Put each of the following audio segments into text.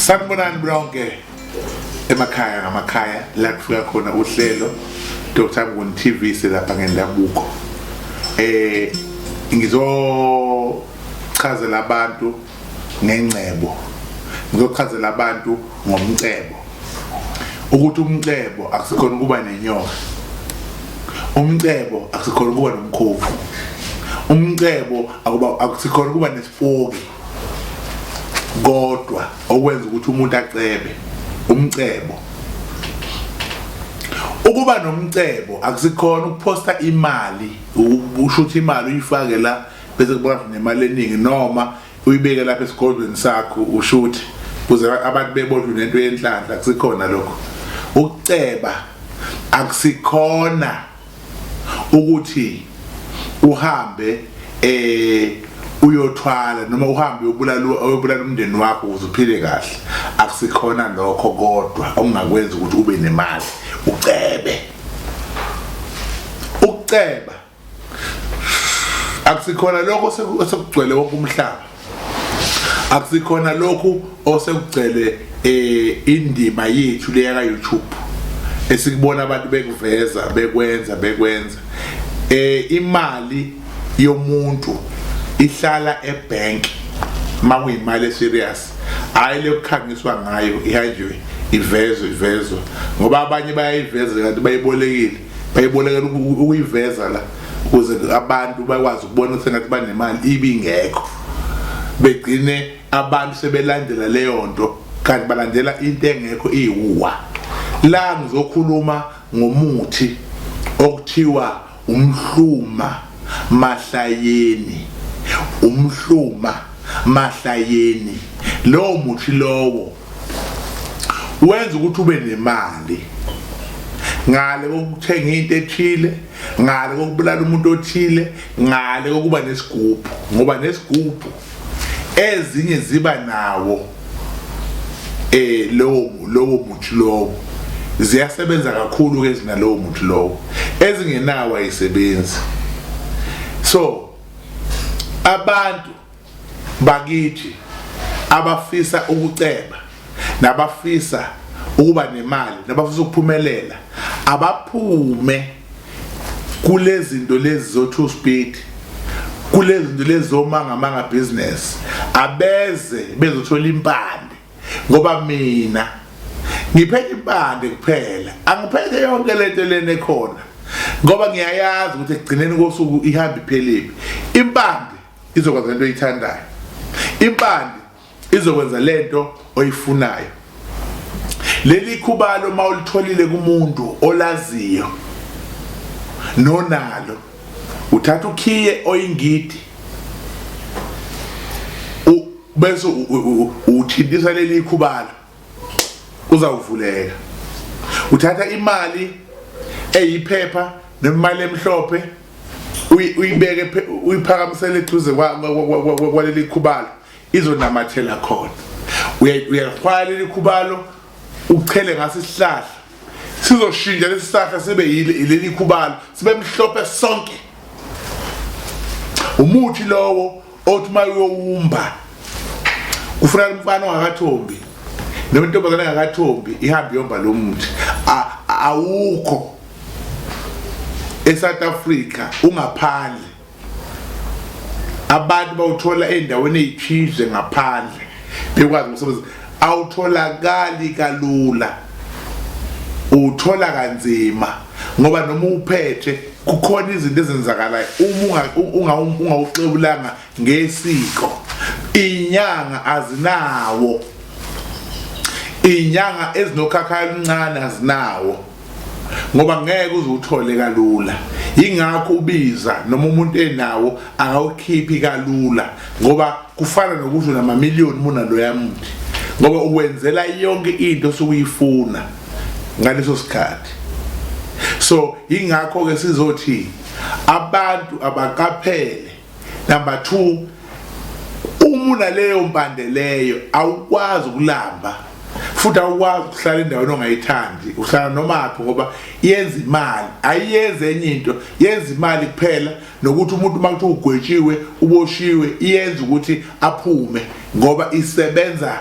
sanibonani bonke emakhaya ngamakhaya la kufika khona uhlelo Dr Mnguni TV selapha ngendabuko eh ngizochazela abantu ngengcebo ngizochazela abantu ngomcebo ukuthi umcebo akusikhona ukuba nenyoka umcebo akusikhona ukuba nomkhovu umcebo akuba akusikhona ukuba nesipoki kodwa okwenza ukuthi umuntu acebe umcebo ukuba nomcebo akusikhona ukuphosta imali usho ukuthi imali uyifake la bese kuba nemali eningi noma uyibeke lapha esigodlweni sakho ushuthi kuze abantu bebodlwe nento yenhlanhla kusikhona lokho ukuceba akusikhona ukuthi uhambe eh uyothwala noma uhambe uyobulala uyobulala umndeni wakho ukuze uphile kahle akusikhona lokho kodwa okungakwenza ukuthi ube nemali ucebe ukuceba akusikhona lokho osekugcwele wonke umhlaba akusikhona lokhu osekugcwele eh indima yethu leya ka YouTube esikubona abantu bekuveza bekwenza bekwenza eh imali yomuntu ihlala ebank makuyimali serious hayi lokukhangiswa ngayo ihanjwe ivezwe ivezwe ngoba abanye bayayiveza kanti bayibolekile bayibolekela ukuyiveza la ukuze abantu bakwazi ukubona ukuthi ngathi banemali ibingekho begcine abantu sebelandela leyo nto kanti balandela into engekho iwuwa la ngizokhuluma ngomuthi okuthiwa umhluma mahlayeni umhluma mahlayeni lowo muthi lowo wenza ukuthi ube nemali ngale kokuthenga into ethile ngale kokubulala umuntu othile ngale kokuba nesigubhu ngoba nesigubhu ezinye ziba nawo eh lowo lowo muthi lowo ziyasebenza kakhulu ke zinalowo muthi lowo ezingenawo ayisebenzi so abantu bakithi abafisa ukuceba nabafisa ukuba nemali nabafisa ukuphumelela abaphume kulezinto lezi zo two speed kulezinto lezi zomanga manga business abeze bezothola impande ngoba mina ngiphethe impande kuphela angiphethe yonke lento lena ekhona ngoba ngiyayazi ukuthi ekugcineni kosuku ihamba ipheliphi impande izokwenza lento oyithandayo impande izokwenza lento oyifunayo leli khubalo mawulitholile kumuntu olaziyo nonalo uthatha ukhiye oyingidi bese uthintisa leli khubalo uzawuvuleka uthatha imali eyiphepha nemali emhlophe uyibeke uyiphakamisele eduze kwaleli khubalo izonamathela khona uyalifaka leli khubalo uchele ngaso isihlahla sizoshintsha lesi sihlahla sibe yileli khubalo sibe mhlophe sonke umuthi lowo othi uma uyowumba kufuneka umfana ongakathombi noma intombazane engakathombi ihambe iyomba lo muthi awukho eSouth Africa ungaphandle abantu bawuthola endaweni ezithize ngaphandle bekwazi umsebenzi awutholakali kalula uthola kanzima ngoba noma uphethe kukhona izinto ezenzakalayo uma ungawuxebulanga ngesiko inyanga azinawo inyanga ezinokhakhayo oluncane azinawo ngoba ngeke uzuthole kalula ingakho ubiza noma umuntu enawo akawukhiphi kalula ngoba kufana nokusho namamiliyoni muna loya muntu ngoba uwenzela yonke into osukuyifuna ngaleso sikhathi so ingakho ke sizothi abantu abaqaphele number 2 uma unaleyo mpande leyo awukwazi ukulamba futhi awukwazi ukuhlala endaweni ongayithandi uhlala noma aphi ngoba yenza imali ayiyenzi enye into yenza imali kuphela nokuthi umuntu uma kuthiwa ugwetshiwe uboshiwe iyenza ukuthi aphume ngoba isebenza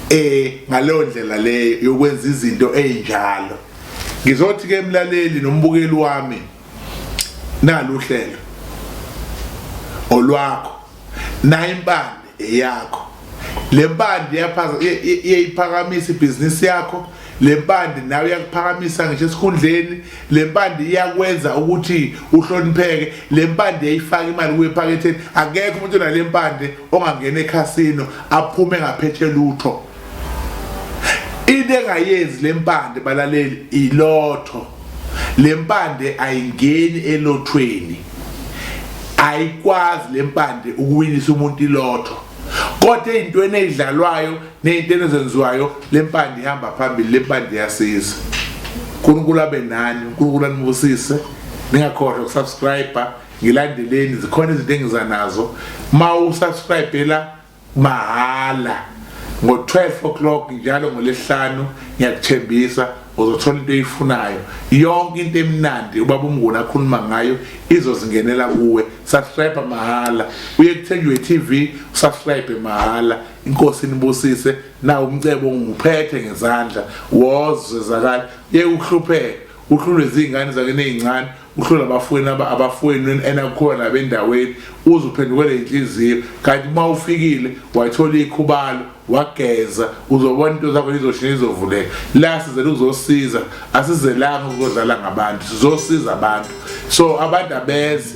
eh ngaleyo ndlela leyo yokwenza izinto ezinjalo ngizothi ke emlaleli nombukeli wami naluhlelo olwakho naye impande eyakho lempande yaphaza iyayiphakamisa ibhizinisi yakho Le mpande nawe iyakuphakamisa ngisho esikhundleni le mpande iyakwenza ukuthi uhlonipheke le mpande yayifaka imali kuye ephaketheni akekho umuntu onale mpande ongangena ekhasino aphume ngaphethe lutho into engayenzi le mpande balaleli ilotho le mpande ayingeni elothweni ayikwazi le mpande ukuwinisa umuntu ilotho kodwa ey'ntweni ey'dlalwayo Ney'ntelo ezenziwayo le mpande ihamba phambili le mpande iyasiza. uNkulunkulu abe nani, uNkulunkulu anibusise. Ningakhohlwa ukusubscribe-a, ngilandeleni zikhona izinto engiza nazo. Uma usubscribe-ela mahhala ngo-12 o'clock njalo ngolesihlanu ngiyakuthembisa uzothola into oyifunayo yonke into emnandi ubaba umnguni akhuluma ngayo izozingenela kuwe subscribe mahhala uye kuthenjwe TV subscribe mahhala inkosi nibusise na umcebo nguphethe ngezandla wozwe zakala ye ukuhlupheka uhlulwe izingane zakene ezincane uhlula abafweni abafweni enakukhona nabendaweni uze uphendukele inhliziyo kanti uma ufikile wathola ikhubalo wageza uzobona into zakho izoshintsha izovuleka la sizele uzosiza asizelanga ukodlala ngabantu sizosiza abantu so abantu abeze